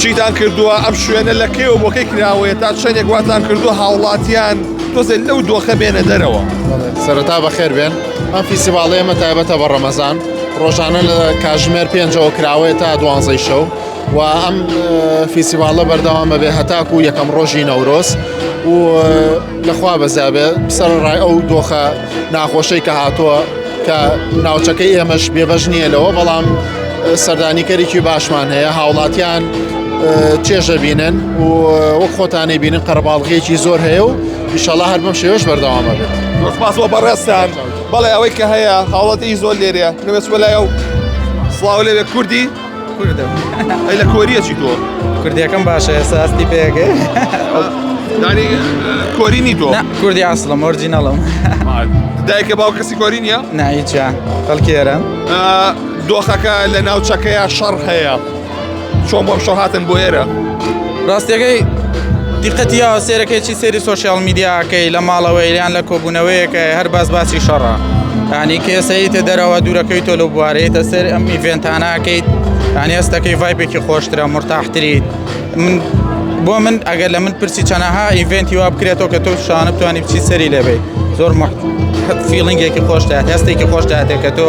چیتان کردووە ئەم شوێنە لە کێوە بۆکەی کراوەیە تا چەندێک واتان کردووە هاوڵاتیان تۆزێت لەو دۆخە بێنە دەرەوە سەرەتا بەخێر بێن ئەم فیسیڤاڵی ئەمە تایبەتە بە ڕەمەزان ڕۆژانە لە کاژمێر پێنجەوە کراوەیە تا دوانزەی شەو و ئەم فیسیڤاڵە بەردەوام بەبێ هەتاکو یەکەم ڕۆژی نەورۆز و لەخوا بەزیابێت سەر ڕای ئەو دۆخە ناخۆشەی کە هاتووە کە ناوچەکەی ئێمەش بێبەش نییە لەوە بەڵام سەردانیکەرێکی باشمان هەیە هاوڵاتیان چێژە بینن و وەک خۆتانەی بینن قەرباڵغێکی زۆر هەیە و ئیشەڵا هەر بەم شێوەش بەردەوامە بێت پاسەوە بەڕێستان بەڵێ ئەوەی کە هەیە هاوڵاتی زۆر لێرەیە نوێسوە لایە و سڵاو لەوێ کوردی ئەی لە کۆریە چی تۆ کوردیەکەم باشە ئێستا ئەستی پێگە دانی کۆرینی تۆ کوردی ئاسڵم ئۆرجینەڵم دایکە باو کەسی کۆری نیە نایچە خەڵکێرە دۆخەکە لە ناوچەکەیە شەڕ هەیە چۆن بۆم شەهاتن بۆ ئێرە ڕاستەکەی دیقەتی یاوە سێرەکەی چی سێری سوۆسیال میدیاکەی لە ماڵەوەی یان لە کۆبوونەوەیەکە هەر باس باسی شەڕە ینی کێسەیتە دەرەوە دوورەکەی تۆ لە بوارەیەتە سەر ئەم ئیڤێنتاناکەیت یان هێستەکەی ڤایپێکی خۆشترە مرتاحتریت من بۆ من ئەگەر لە من پرسی چەنەها ئیڤێنتی وا بکرێتەوە کە تۆ شانە بتوانانی بچی سەری لەبێ زۆر فیلنگێکی خۆشتە هەستێکی خۆشتاتێک کە تۆ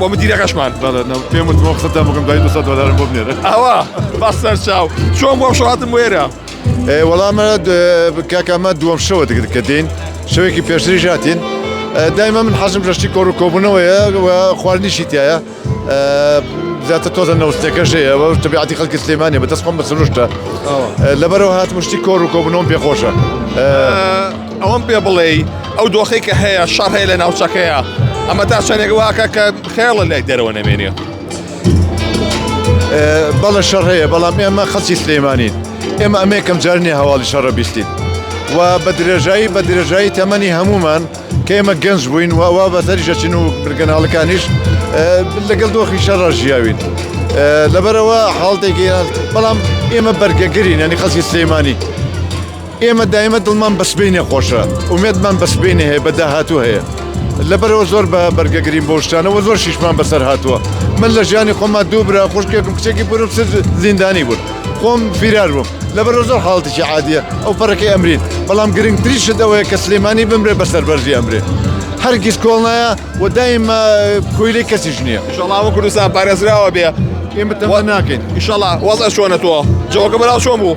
بۆ من دیرەکەشمان پێم وت بۆ قسەتە بکەم دوای 200 دلارم بۆ بنێرە ئەوە بە سەر چاو چۆن بۆ شاتم وێرە وەڵامە کاکەمە دووەم شەوە دەگرت کە دێن شەوێکی پێشتری ژاتین دایمە من حەزم ڕشتی کۆڕ و کۆبوونەوەیە خواردنیشی تایە زیاتر تۆزە نەوستەکەش هەیە بە تەبیعاتی خەڵکی سلێمانێ بە دەستخۆم بە سروشتە لەبەرەوە هات مشتی کۆڕ و کۆبنەوەم پێخۆشە. ئەوەم پێ بڵێی ئەو دۆخی کە هەیە شەڕ هەیە لە ناوچەکەیە ئەمە تا چەندێک واکە کە خێڵە لای دەرەوە نەمێنێ بەڵە شەڕ هەیە بەڵام ئێمە خەسی سلێمانین ئێمە ئەمێکم جارنی هەواڵی شەڕە بیستین و بە درێژایی بە درێژایی تەمەنی هەمومان کە ئێمە گەنج بووین و ئەوە بەسەریشەچین و برگەناڵەکانیش لەگەڵ دۆخی شەڕە ژیاوین. لەبەرەوە حاڵتێکی بەڵام ئێمە بەرگەگرین ینی خەسی سلێمانی ئێمە دایمە دڵمان بە سبەینێ خۆشە، ئومێدمان بە سبەینێ هەیە، بە داهاتوو هەیە. لەبەرئەوە زۆر بە بەرگە گرین بەو شتانە و زۆر شیشمان بەسەر هاتووە. من لە ژیانی خۆمما دوو برا، خوشکێکم، کچێکی بوونم ست زیندانی بوون. خۆم فیرار بووم. لەبەرئەوە زۆر حاڵەتێکی عادییە ئەو پەڕەکەی ئەمرین. بەڵام گرنگترین شت ئەوەیە کە سلێمانی بمرێ بە سەربەرزی ئەمرێ. هەرگیز کۆڵ نایە و دایمە کۆیلەی کەسیش نییە. ئیشەڵا هەموو کوردستان پارێزراوە بێ ئێمە تەمە ناکەین. ئیشەڵا. وەزعت چۆنە تۆ؟ جەوەکە بەناو چۆن بوو؟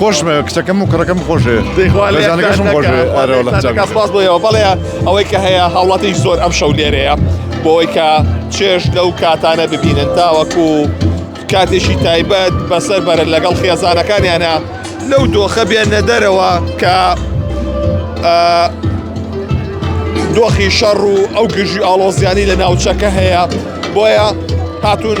خۆشمە کچەکەم و کڕەکەم خۆشێ سپاس بۆیەوە بەڵێ ئەوەی کە هەیە هاوڵاتی زۆر ئەم شەو لێرەیە بۆی کە چێش لەو کاتانە ببینن تاوەکو کاتێکی تایبەت بەسەر بەرە لەگەڵ خێزانەکانیانە لەو دۆخە بێنە دەرەوە کە دۆخی شەڕ و ئەو گژی ئاڵۆزیانی لە ناوچەکە هەیە بۆیە هاتون